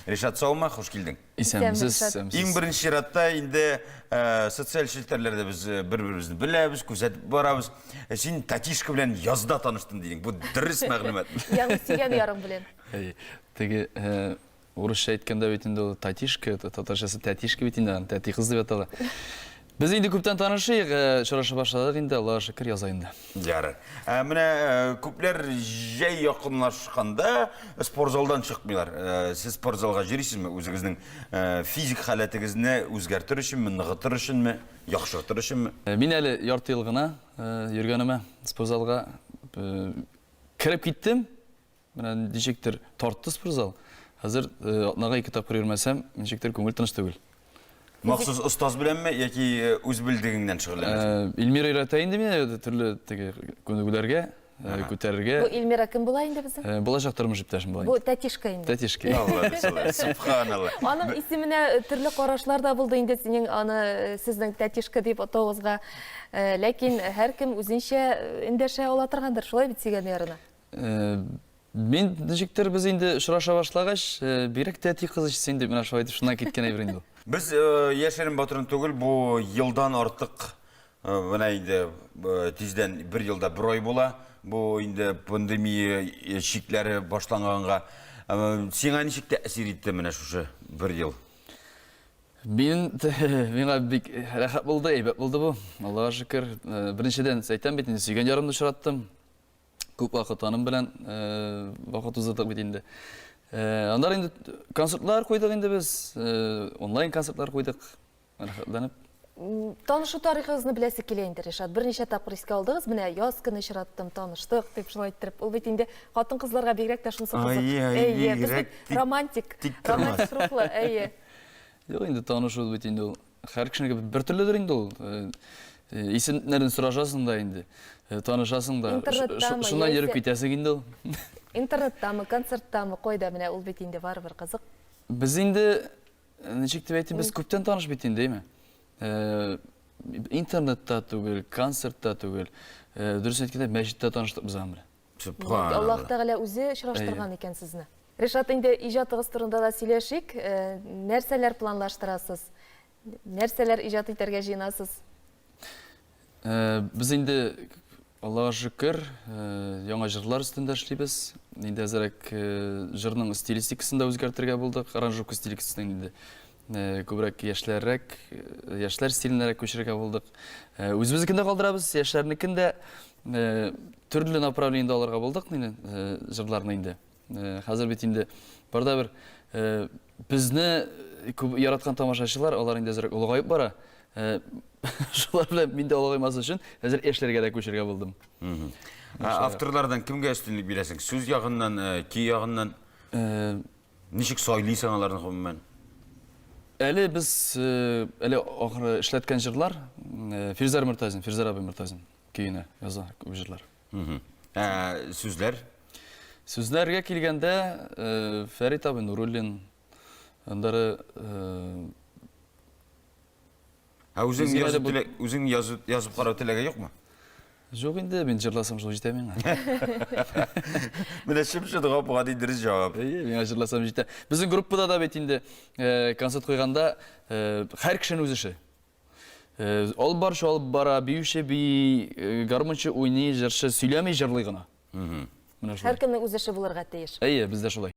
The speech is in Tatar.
Ришат, саумы? Хуш килдең. Исәнмесез, исәнмесез. Иң беренче чиратта инде э, социаль челтәрләрдә без э, бер-беребезне беләбез, күзәтеп барабыз. Э, син Татишка белән язда таныштым дидең. Бу дөрес мәгълүмат. Ягъни сөйгән ярың белән. Әй, теге э, урысча әйткәндә бит инде ул татишка, татарчасы тәтишка бит инде, аны тәти кыз дип атала. Без инде күптән танышыйк, э, очраша башладык инде, Аллага шөкер, яза инде. Ярар. Ә менә э, күпләр җәй якынлашканда спортзалдан чыкмыйлар. Э, Сез спортзалга йөрисезме? Үзегезнең э, физик халәтегезне үзгәртер өченме, ныгытыр өченме, яхшыртыр өченме? Э, Мин әле ярты ел гына э, йөргәнемә спортзалга э, кереп киттем, Менә ничектер тартты спортзал. Хәзер э, атнага ике тапкыр йөрмәсәм, ничектер күңел тыныч түгел. Махсус остаз беләнме яки э, үз белдегеңнән шөгыльләнәсең? Э, Эльмира өйрәтә инде мине э, төрле теге күнегүләргә, э, күтәрергә. Бу Эльмира кем була инде безнең? Э, Булачак тормыш иптәшем була. Бу инде. тәтишка инде. Тәтишки. Алла ризалар, субханалла. Аның исеменә э, төрле карашлар да булды инде синең аны э, сезнең тәтишка дип атавыгызга. Э, Ләкин һәркем үзенчә э, эндәшә ала торгандыр, шулай бит сөйгән ярына. Мин ничектер без инде очраша башлагач, бигрәк тә әти кыз ишетсен дип менә шулай итеп шуннан киткән әйбер инде ул. Без яшерен батырын түгел, бу елдан артык менә инде тиздән бер елда бер ай була. Бу инде пандемия чикләре башланганга. Сиңа ничек тәэсир итте менә шушы бер ел? Мин миңа бик рәхәт булды, әйбәт булды бу. Аллага шөкер. Беренчедән әйтәм бит, сөйгән ярымны очраттым. Күп вакыт аның белән вакыт узырдык бит инде. Аннары инде концертлар куйдык инде без, онлайн концертлар куйдык. Рәхәтләнеп. Танышу тарихыгызны беләсе килә инде, Ришат. Берничә тапкыр искә алдыгыз, менә яз көне очраттым, таныштык, дип шулай иттереп. Ул бит инде хатын-кызларга бигрәк тә шунысы кызык. Әйе, әйе, бигрәк романтик, романтик рухлы, әйе. Юк инде танышу бит инде ул. Хәр кешенеке бер төрледер инде ул. Исемнәрен сорашасың да инде, танышасың да. Интернеттамы? Шуннан йөреп китәсең инде ул. Интернеттамы, концерттамы, кайда менә ул бит инде барыбер кызык. Без инде ничек дип әйтим, без күптән таныш бит инде, әйме? Интернетта түгел, концертта түгел. Дөрес әйткәндә, мәчеттә таныштык без аның белән. Субханалла. Аллаһ Тәгалә үзе очраштырган икән сезне. Ришат, инде иҗатыгыз турында да сөйләшик. Э, нәрсәләр планлаштырасыз? Нәрсәләр иҗат итәргә җыенасыз? Э, без инде Аллаһ шөкер, э, яңа җырлар өстендә эшлибез. Инде әзерәк җырның стилистикасын да үзгәртергә булдык. Аранжировка стилистикасын инде Э, күбрәк яшьләррәк э, яшьләр стиленәрәк күчерергә булдык э, үзебезнекендә калдырабыз яшьләрнекен дә Э, төрле направлениедә алырга булдык мени э, җырларны инде э, хәзер бит инде барда бер безне күп яраткан тамашачылар алар инде әзрәк олыгаеп бара шулар белән мин дә олыгаймас өчен хәзер яшьләргә дә күчергә булдым авторлардан кемгә өстенлек бирәсең сүз ягыннан көй ягыннан ничек сайлыйсың аларны гомумән әле без әле ахыры эшләткән җырлар фирзар мөртазин фирзар абый мөртазин көенә яза күп җырлар. Ә сүзләр? Сүзләргә килгәндә, э, Фәрит абый Нуруллин, андары э, Ә үзең Үзгә язып, теләк, үзең язып, язып карау теләге юкмы? Жоқ инде, мин жырласам шул җитә миңа. Менә шымшы дога буга ди дөрес җавап. Әйе, миңа жырласам җитә. Безнең группада да бит инде концерт куйганда һәр кешенең үз эше. Алып барчы алып бара, биюче бии, гармунчы уйный, җырчы сөйләми, җырлый гына. Менә шулай. Һәркемнең үз эше булырга тиеш. Әйе, бездә шулай.